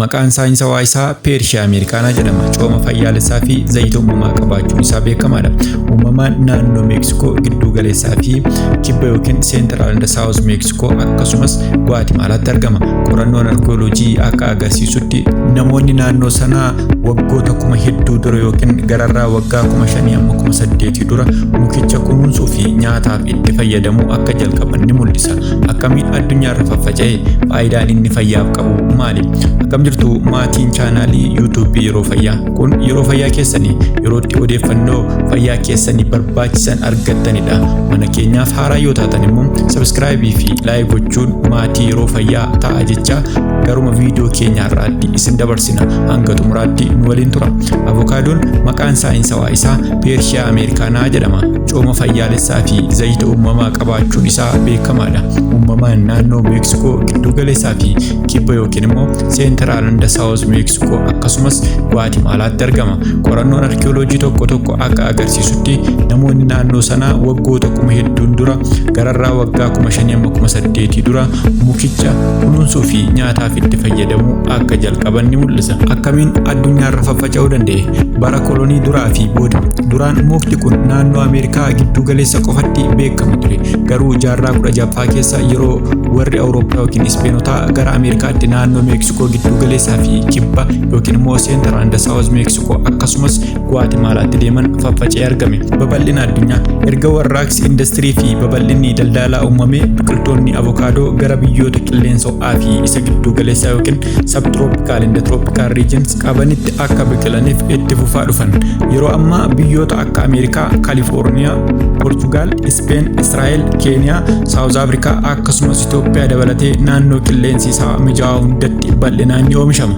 Maqaan saayinsawaa isaa Peershiyaa Ameerikaanaa jedhama. Cooma fayyaalessaa fi zayita uumamaa qabaachuun isaa beekamaadha. Uumamaan naannoo Meeksikoo gidduu galeessaa fi kibba yookiin seentiraal inda saawus Meeksikoo akkasumas Guwaatimaalaatti argama. Qorannoon arkiyooloojii akka agarsiisutti namoonni naannoo sanaa waggoota kuma hedduu dura yookiin gararraa waggaa kuma shanii amma kuma saddeetii dura mukicha kunuunsuu fi nyaataaf itti fayyadamuu akka jalqaban ni mul'isa. Akkamiin addunyaarra faffaca'e? Faayidaan inni fayyaaf qabu maali? Akkam jirtu maatiin chaanaalii YouTube Yeroo Fayyaa. Kun yeroo fayyaa keessanii yeroo itti odeeffannoo fayyaa keessanii barbaachisan argattanidha. Mana keenyaaf haaraa yoo taatan immoo sabiskiraayibii fi laayik gochuun maatii yeroo fayyaa ta'a jechaa garuma viidiyoo keenya har'aatti isin dabarsina. Hanga xumuraatti nu waliin tura. Avokaadoon maqaan saayinsawaa isaa Peershiyaa Ameerikaanaa jedhama. cooma fayyaalessaa fi zayita uumamaa qabaachuun isaa beekamaadha. Uumamaan naannoo Meeksikoo gidduu galeessaa fi kibba yookiin immoo seentiraal hunda saawuz Meeksikoo akkasumas Guwaatimaalaatti argama. Qorannoon arkiyooloojii tokko tokko akka agarsiisutti namoonni naannoo sanaa waggoota kuma hedduun dura gararraa waggaa kuma shanii amma kuma saddeetii dura mukicha kunuunsuu fi nyaataaf itti fayyadamuu akka jalqaban ni mul'isa. Akkamiin addunyaarra faca'uu danda'e bara kolonii duraa fi booda duraan mukti kun naannoo ameerikaa gidduu galeessa qofatti beekama ture garuu jaarraa 16ffaa keessa yeroo warri awurooppaa yookiin ispeenotaa gara ameerikaatti naannoo meeksikoo gidduu galeessaa fi kibba yookiin immoo seentar and saawuz meeksikoo akkasumas guwaatimaalaatti deeman faffacee argame babal'ina addunyaa erga warraaqsi indastirii fi babal'inni daldalaa uumamee biqiltoonni avokaadoo gara biyyoota qilleensa ho'aa fi isa gidduu galeessaa yookiin sabtirooppikaal inda tirooppikaal riijins qabanitti akka biqilaniif itti fufaa dhufan yeroo ammaa biyyoota akka ameerikaa kaalifoorniyaa poorchugaal ispeen israa'el keeniyaa saawuz afrikaa akkasumas itoophiyaa dabalatee naannoo qilleensi isaa mijaa'aa hundatti bal'inaan ni oomishama.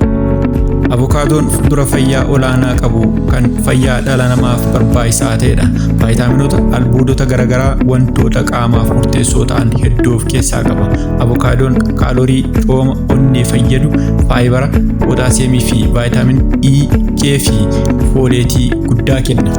Avokaadoon fuduraa fayyaa olaanaa qabu kan fayyaa dhala namaaf barbaachisaa ta'edha. Vaayitaaminoota, albuudota garaagaraa wantoota qaamaaf murteessoo ta'an hedduu of keessaa qaba. Avokaadoon kaalorii, cooma, onnee fayyadu, faayibara, pootaasiyeemii fi vaayitaamin E, K fi fooleetii guddaa kenna.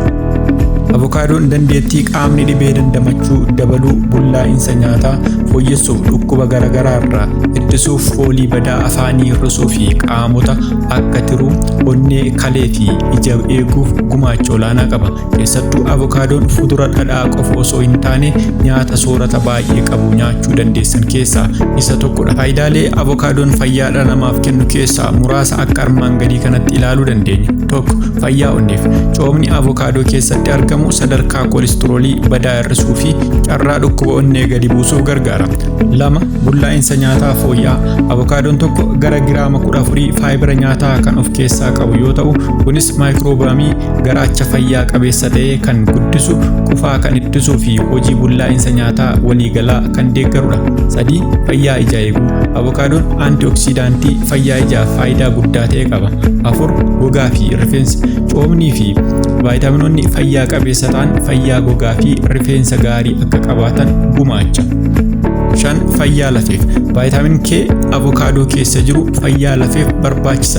Avokaadoon dandeettii qaamni dhibee dandamachuu dabaluu, bullaa'insa nyaataa fooyyessuuf, dhukkuba garaagaraa irraa ittisuuf, foolii badaa afaanii hir'isuu fi qaamota akka tiruu, onnee, kalee fi ija eeguuf gumaacha olaanaa qaba. Keessattuu avokaadoon fudura dhadhaa qofa osoo hin taane nyaata soorata baay'ee qabu nyaachuu dandeessan keessaa isa tokkodha. Faayidaalee avokaadoon fayyaa dhala namaaf kennu keessaa muraasa akka armaan gadii kanatti ilaaluu dandeenya. Tokko fayyaa onneef coomni avokaadoo keessatti argamu sadarkaa koolistiroolii badaa hir'isuu fi carraa dhukkuba onnee gadi buusuuf gargaara. Lama bullaa'insa nyaataa fooyya'aa avokaadoon tokko gara giraama 14 faayibira nyaataa kan of keessaa qabu yoo ta'u kunis maayikiroobaamii Garaacha fayyaa qabeessa ta'e kan guddisu, qufaa kan ittisuu fi hojii bullaa'insa nyaataa waliigalaa kan deeggarudha. 3. Fayyaa ijaa eeguu. Avokaadoon antioksidaantii fayyaa ijaaf faayidaa guddaa ta'e qaba. 4. Gogaa fi rifeensa. Coomnii fi vaayitaaminoonni fayyaa qabeessa ta'an fayyaa gogaa fi rifeensa gaarii akka qabaatan gumaacha. 5. Fayyaa lafeef. Vaayitaamin K avokaadoo keessa jiru fayyaa lafeef barbaachisaadha.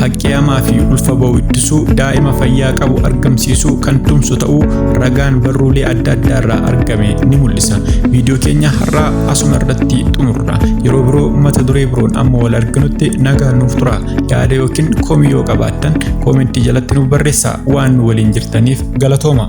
Haqqii hamaa fi ulfa ba'u ittisuu, daa'ima fayyaa qabu argamsiisuu kan tumsu ta'uu ragaan barruulee adda addaa irraa argame ni mul'isa. Viidiyoo keenya har'aa asuma irratti xumurra. Yeroo biroo mata duree biroon amma wal arginutti nagaan nuuf tura. Yaada yookiin komii yoo qabaattan koomentii jalatti nuuf barreessaa waan nu waliin jirtaniif galatooma.